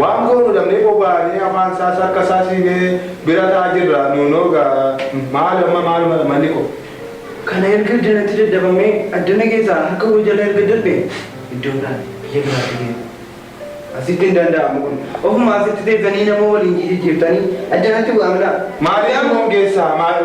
Waan goonu dhabnee bobaanee afaan isaas harka isaas hiinee bira ta'aa jirra nuunoo egaa maal amma maaluma dha malli koo. Kana erga adda natti daddabamee addana keessaa harka koo jala erga darbe iddoo biraa biyya biraatti deemu asitti hin danda'amu kun ofuma asitti teessanii nama waliin jijijjiirtanii adda natti bu'aa mila. Maaliif nu hongeessaa maal.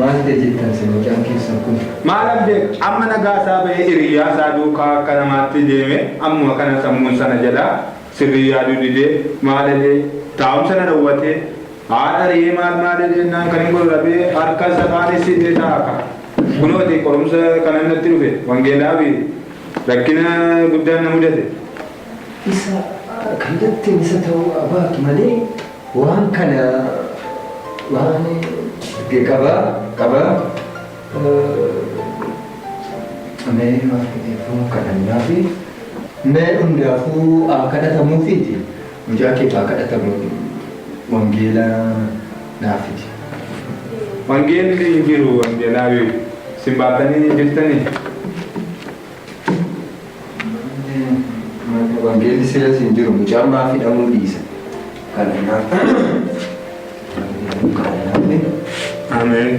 Maal ta'e jettan isin mucaan keessan kun? Maal abdeet amma nagaa isaa bahee hiriyaa isaa duukaa akka namaatti deeme ammuma kana sammuun sana jalaa sirrii yaaduu didee maal edee taa'umsa na dhowwatee haadha riyee maal maal edeennaan kan hin godhu dhabee harka isa kaanis hidhee taa'a ka. Kunoo ati qorumsa kanan natti dhufe, wangeelaafi rakkina guddaan na mudate. Isa kan jetteen isa ta'uu haa baatu malee waan kana waan qaba qaba mee maaf dhiifama kadhannaafi mee hundaafuu haa kadhatamuufiiti. Mucaa keetu haa kadhatamu wangeela naaf fidi. Wangeelli hin jiru wangeelaawi isin baattanii hin jirtanii? Wangeelli silas hin jiru mucaan maaf hidhamuu dhiisa. Kana naaf Ameen.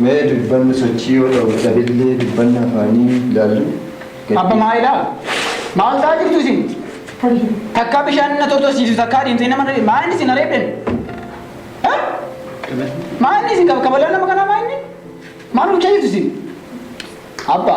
Mee dubbanni sochii yoo ta'u dhabillee dubbanna afaanii ilaallu. Abba maa ilaala? Maal ta'aa jirtu isin? Takkaa bishaan na tortorsiisu takkaa deemtee nama reebdu. Maa inni isin reebden? Maa inni isin kabalaan nama kanaa maa inni? Maal hojjaa jirtu isin? Abba.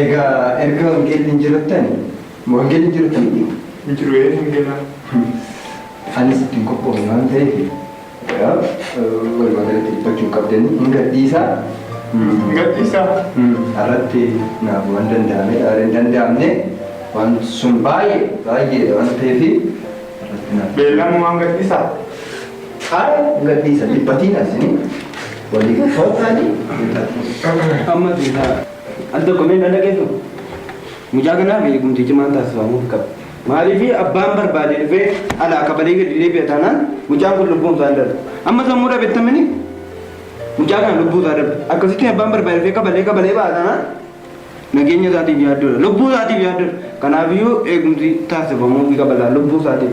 Egaa erga wangeelli hin jirrattani ma wangeelli hin jirrattani dhiigu? Hin jiru ee hin gala. Anis itti hin qophoofne waan ta'eef egaa walumaa galatti dhiphachuu hin qabdani hin gadhiisaa. Hin gadhiisaa. Har'atti naaf waan danda'ame hin danda'amne waan sun baay'ee baay'eedha waan ta'eef har'atti naaf. Beellama waan gadhiisaa. Haala hin gadhiisa dhiphatiin asini walii galtootaani. Amma deemaa. Al tokko mee na dhageeffa. Mucaa kanaaf eegumsi cimaan taasifamuuf qaba. Maaliif abbaan barbaade dhufee alaa kabalee gadi deebi'a taanaan mucaan kun lubbuun isaa hin darbu. Amma sammuu dhabettamini mucaa kana lubbuu isaa darbu. Akkasitti abbaan barbaade dhufee kabalee kabalee ba'a taanaan nageenya isaatiif yaaddoodha. Lubbuu isaatiif yaaddoodha. Kanaafiyyuu eegumsi taasifamuuf qaba laa lubbuu isaatiif.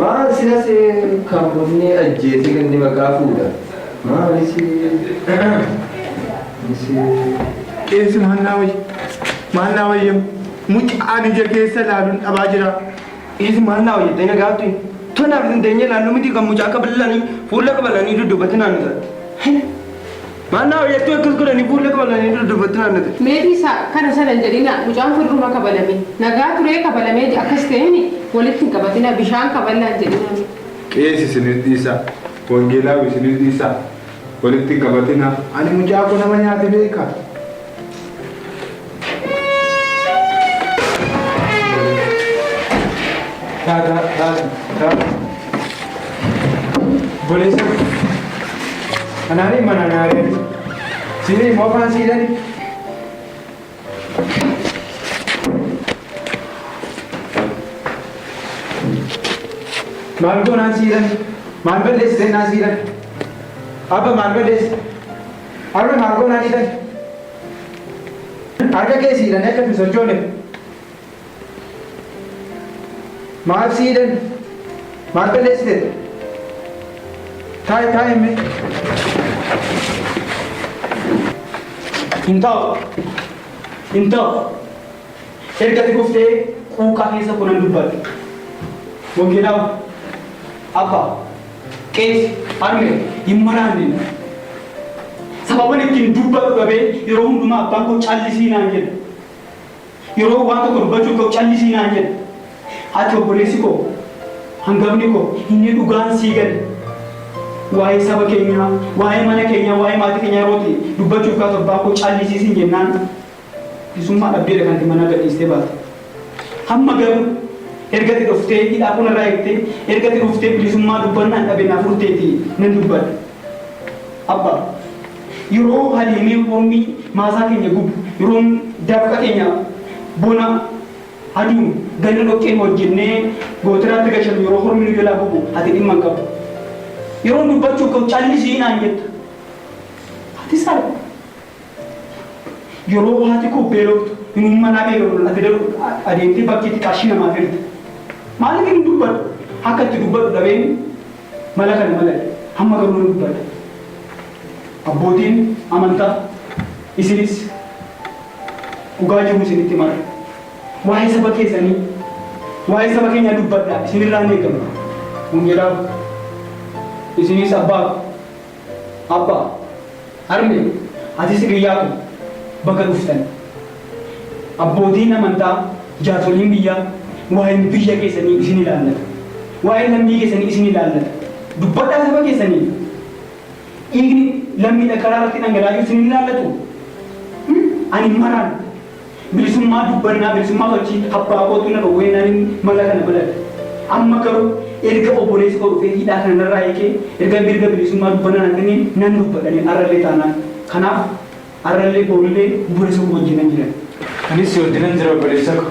Maal sila see kan bunni ajjeese ganni maqaa fuudha maali see. Qeensi maannaa wayya maannaa wayya mucaan ija keessa laaluun dhabaa jira. Qeensi maannaa wayya dana gaaftu tonaaf hin deenye laallu miti kan mucaa kabalanii fuula kabalanii duddubatinaan gaaftu. Maannaa hoyattuu akkas godhani buulla qabalani dura dubbattin aannate. Meetii sa, kana sana hin jedhinaa mucaan kun dhiruma kabalame nagaa turee kabalamee ji, a akkas ta'eeni walitti hin qabatinaa bishaan kaballaa hin jedhinaa mee. Qeesi isiniif dhiisaa wangeelaawi isiniif dhiisaa walitti hin qabatinaa. Ani mucaa koo nama nyaate beekaa? Boleessa kanaanii mana naagari siinii immoo afaan siidhani. Maal goonaan siidhani? Maal balleessitee naa siidhani? Abba maal balleessite? Arra maa goonaa didan? Harka kee si hidhanii akka hin sochoone maaf si hidhan? Maal balleessite? Taa'i taa'i mee. Hin ta'u. Hin ta'u. Erga ati dhuftee quuqqaa keessa koo nan dubbadhe. Wangeelaawu, Abbaa, Qeesi, Harmee, hin maraanneen. Sababan ittiin dubbadhu dhabee yeroo hundumaa abbaan koo callisii naan jedha. Yeroo waan tokko dubbachuuf ka'u callisii naan jedha. Ati obboleessi koo hangafni koo inni dhugaan sii gale. Waa'ee saba keenyaa, waa'ee mana keenyaa, waa'ee maatii keenyaa yeroo ati dubbachuuf kaatu abbaan koo callisii siin jennaan. Bilisummaa dhabdeedha kan ati manaa gadhiistee baate. Hamma garuu erga ati dhuftee hidhaa koo narraa hiiktee, erga ati dhuftee bilisummaa dubbannaan dhabe naa furteeti nan dubbadha. Abba, yeroo Haliimee Ormi maasaa keenya gubu, yeroo dafqa keenya bona aduun ganna dhoqqeen hojjennee gootiraatti gashannu, yeroo hormi nu jalaa gubu ati dhimma hin qabdu. Yeroon dubbachuuf ka'u callisi naan jetta. Ati saree. Yeroo haati koo beeloftu inumma anaa beelofna ati daru adeemtee bakkeetti qarshii namaaf hirta. Maaliifin hin dubbadhu? Akka itti dubbadhu dhabeen mala kana malale. Amma garuu nan dubbadha. Abbootiin amantaa isinis dhugaa jiru isinitti himarra. Waa'ee saba keessanii, waa'ee saba keenyaa dubbadhaa isinirraa hin eegamu. Wangeelaaf isinis abbaa ko. Abba, harme, atis hiriyyaa ko baga dhuftan. Abbootiin amantaa, jaarsoliin biyyaa waa'een biyya keessanii isin ilaallata. Waa'een lammii keessanii isin ilaallata. Dubbadhaa saba keessaniif. Dhiigni lammiidha karaa irratti dhangalaa'iu isin hin ilaallatu? Ani maraan Bilisummaa dubbannaa, bilisummaa sochii abbaa kootu na dhowweennaanin mala kana baladhe. Amma garuu erga obboleessi koo dhufee hidhaa kana narraa hiikee, erga mirga bilisummaa dubbannaa naa kenneen nan dubbadha ani arrallee taanaan. Kanaaf arrallee borullee obboleessa koo wajjinan jira. Anis si wajjinan jira obboleessa koo.